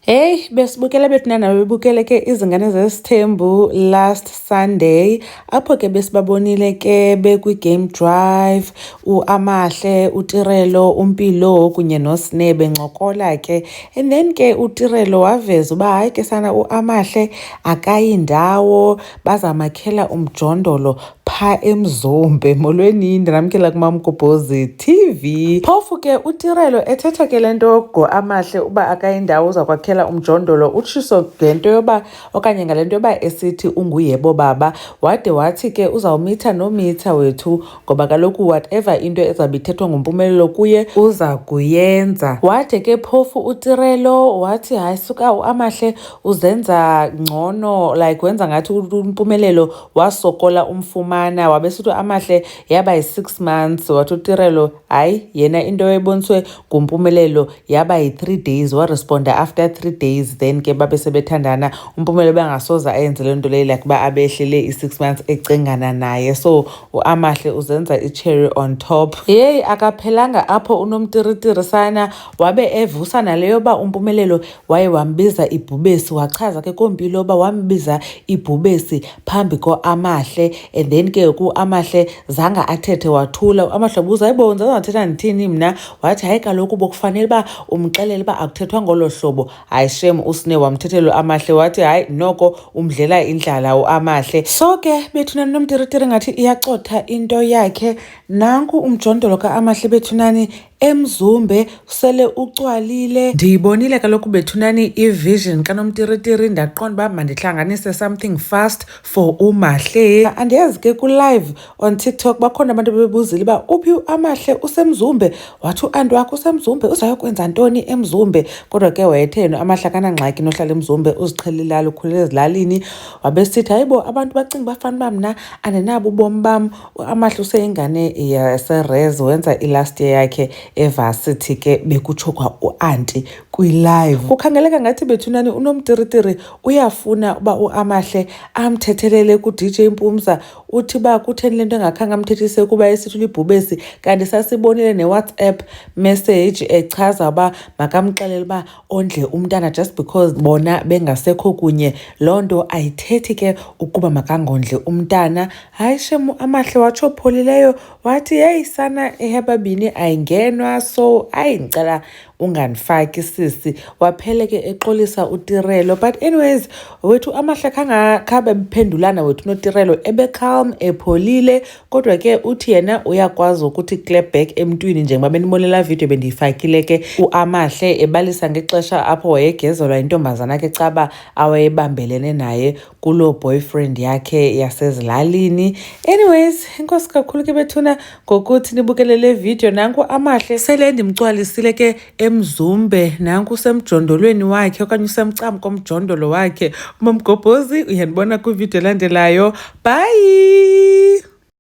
Hey besibukele bethu nana bebukele ke izingane zesithembu last Sunday apho ke besibabonile ke bekwi-game drive uAmahle uTirelo uMpilo kunye noSne bencokola ke and then ke uTirelo waveza uba hayi ke sana uAmahle akayi ndawo bazamakhela umjondolo pha emzombe molweni ndinamkela kumamgobhozi tv phofu ke utirelo ethetha ke le nto yogo amahle uba akayindawo uza kwakhela umjondolo utshiso ngento yoba okanye ngale nto yoba esithi unguyebo baba wade wathi ke uzawumitha nomitha wethu ngoba kaloku whatever into ezawube ithethwa ngumpumelelo kuye uza kuyenza wade ke phofu utirelo wathi hayi suka uamahle uzenza ngcono like wenza ngathi umpumelelo wasokola umfumana wabesithi amahle yaba yi-six months wathi utirelo hayi yena into eboniswe ngumpumelelo yaba yi-three days waresponda after three days then ke babe sebethandana umpumelelo bangasoze ayenze le nto leyo like uba abehlele i-six months ecingana naye so uamahle uzenza i-cherry on top yeyi akaphelanga apho unomtiritirisana wabe evusa naleyo yoba umpumelelo waye wambiza ibhubesi wachaza ke kompilo uba wambiza ibhubesi phambi koamahle and then ke ku amahle zanga athethe wathula amahle buza hayibo ndizangathetha ndithini mna wathi hayi kaloku bokufanele uba umxelele uba akuthethwa ngolo hlobo hayi shem usine wamthethelwe amahle wathi hayi noko umdlela indlala uamahle so ke bethunani nomtiritiri ngathi iyacotha into yakhe nanku umjondolo kaamahle bethunani emzumbe usele ucwalile ndiyibonile kaloku bethunani ivision kanomtiritiri ndaqonda uba mandihlanganise something fast for umahle andiyazi ke kulive on tiktok bakhona abantu bebuzile uba uphi amahle usemzumbe wathi uanti wakho usemzumbe uzayokwenza ntoni emzumbe kodwa ke wayetheni amahle akanangxaki nohlala emzumbe uziqhelilala ukhulele ezilalini wabesithi hayibo abantu bacinga bafana uba mna andinabo ubomi bam uAmahle useyingane yaserez wenza ilast year yakhe evarsity ke bekutsho kwa uanti kwilive kukhangeleka ngathi bethunani unomtiritiri uyafuna uba uamahle amthethelele kudj mpumza uthi uba kutheni le nto engakhange amthethise kuba esithi ulibhubesi kanti sasibonile newhatsapp message echaza uba makamxelele uba ondle umntana just because bona bengasekho kunye loo nto ayithethi ke ukuba makangondle umntana hayi shemu amahle watsho pholileyo wathi heyi sana ehebabini ayingenwa so ayi ndicela ungandifaki sisi waphele ke exolisa utirelo but anyways wethu amahle khangakhabe bephendulana wethu notirelo ebecalm epholile kodwa ke uthi yena uyakwazi ukuthi clap back emntwini njengoba benibonela video bendiyifakile ke uamahle ebalisa ngexesha apho wayegezelwa intombazana ke caba awayebambelene naye kuloo boyfriend yakhe yasezilalini anyways inkosi kakhulu ke bethuna ngokuthi nibukele le video nanku amahle sele ndimcwalisile ke emzumbe nanku usemjondolweni wakhe okanye usemcam komjondolo wakhe umamgobhozi uyandibona kwividiyo elandelayo bye